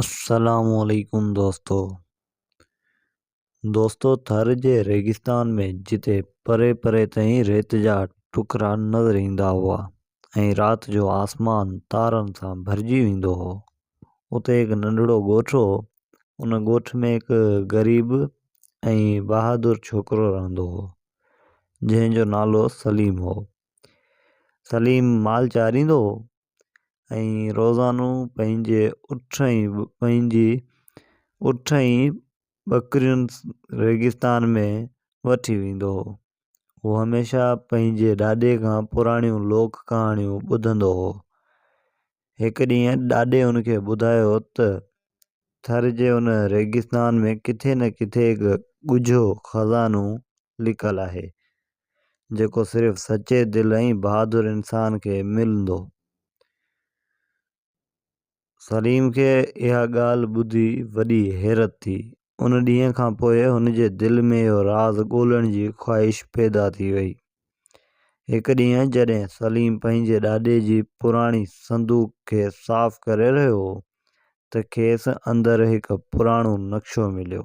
السلام عليڪم دوستو دوستو ٿر جي ريگستان ۾ جتي پري پري تائين ريت جا ٽڪرا نظر ايندا هئا ۽ رات جو آسمان تارن سان ڀرجي ويندو هو اتي هڪ ننڍڙو ڳوٺ هو ان ڳوٺ ۾ هڪ غريب ۽ بهادر ڇوڪرو رهندو هو جنهن جو نالو سليم هو سليم مال چاريندو هو ۽ روزانو پنهنجي اٺ ۽ پنهنجي اٺ ۽ ٻڪرين ريگستان ۾ وٺي ويندو هو. هو هميشه پنهنجي ڏاڏي کان پراڻيون لوڪ ڪهاڻيون ٻڌندو هو. هڪ ڏينهن ڏاڏي هن کي ٻڌايو ته ٿر جي ان ريگستان ۾ ڪٿي نه ڪٿي هڪ ڳجهو خزانو لڪل آهي، جيڪو صرف سچي دل ۽ بهادر انسان کي ملندو. سليم کي اها ڳالهه ٻڌي وڏي حيرت ٿي. ان ڏينهن کان پوء هن جي دل ۾ اهو راز ڳولڻ جي خواهش پيدا ٿي وئي. هڪ ڏينهن جڏهن سليم پنهنجي ڏاڏي جي پراڻي صندوق کي صاف ڪري رهيو هو ته کيس اندر هڪ پراڻو نقشو مليو.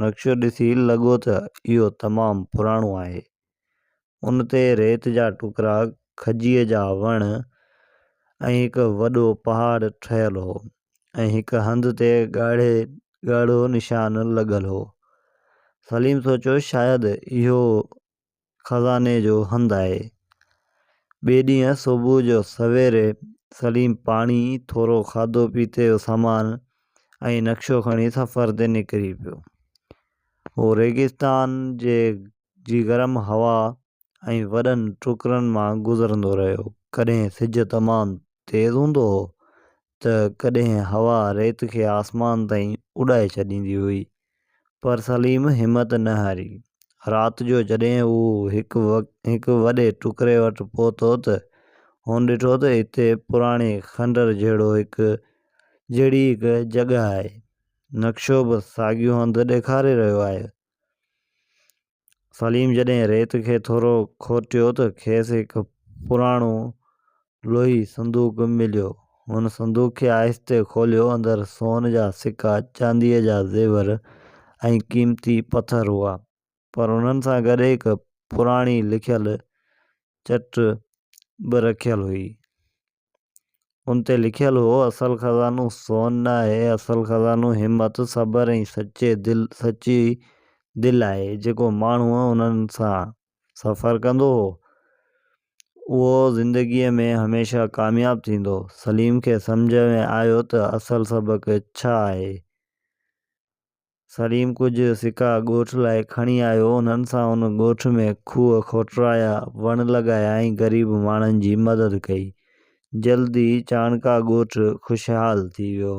نقشو ڏسي لڳو ته اهو تمام پراڻو آهي. ان تي ريت جا ٽڪرا، کجيء جا وڻ ۽ هڪ وڏو پهاڙ ٺهيل هو ۽ هڪ هنڌ تي ڳاڙهي ڳاڙهو نشان لڳل هو. سليم سوچيو شايد اهو خزاني جو هنڌ آهي. ٻئي ڏينهن صبح جو سويري سليم پاڻي، ٿورو کاڌو پيتي جو سامان ۽ نقشو کڻي سفر تي نڪري پيو. هو ريگستان جي گرم هوا ۽ وڏن ٽڪرن مان گذرندو رهيو. ڪڏهن سج تمام تيز هوندو هو ته ڪڏهن هوا ريت کي آسمان تائين اڏائي ڇڏيندي هئي، پر سليم همت نه هاري. رات جو جڏهن هو هڪ وڏي ٽڪري وٽ پهتو ته هن ڏٺو ته اتي پراڻي کنڊر جهڙو هڪ جهڙي هڪ جڳهه آهي. نقشو به ساڳيو هنڌ ڏيکاري رهيو آهي. سليم جڏهن ريت کي ٿورو کورٽيو ته کيس هڪ پراڻو لوهي صندوق مليو. هن صندوق کي آهستي کوليو، اندر سون جا سڪا، چانديء جا زيور ۽ قيمتي پٿر هئا، پر انهن سان گڏ هڪ پراڻي لکيل چٽ به رکيل هئي. ان تي لکيل هو، اصل خزانو سون نه آهي، اصل خزانو همت، صبر ۽ سچي دل سچي دل آهي. جيڪو ماڻهو انهن سان سفر ڪندو هو، اهو زندگيء ۾ هميشه ڪامياب ٿيندو. سليم کي سمجهه ۾ آيو ته اصل سبق ڇا آهي. سليم ڪجهه سڪا ڳوٺ لاء کڻي آيو، انهن سان ان ڳوٺ ۾ کوهه کوٽرايا، وڻ لڳايا ۽ غريب ماڻهن جي مدد ڪئي. جلد ئي چاڻڪا ڳوٺ خوشحال ٿي ويو.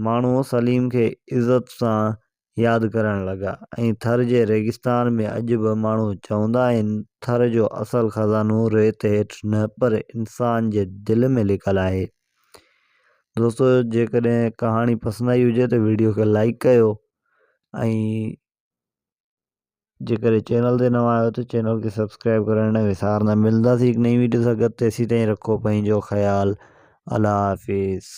ماڻهو سليم کي عزت سان ياد ڪرڻ لڳا ۽ ٿر جي ريگستان ۾ اڄ به ماڻهو چوندا آهن، ٿر جو اصل خزانو ريت هيٺ نه پر انسان جي دل ۾ لڪل آهي. دوستو جيڪڏهن ڪهاڻي پسند آئي هجي ته ويڊيو کي لائڪ ڪيو ۽ جيڪڏهن چينل تي نوان آهيو ته چينل کي سبسڪرائب ڪرڻ نه وسارنا ملنداسي هڪ نئين ويڊيو سان گڏ تيسين تائين رکو پنهنجو خيال الله حافظ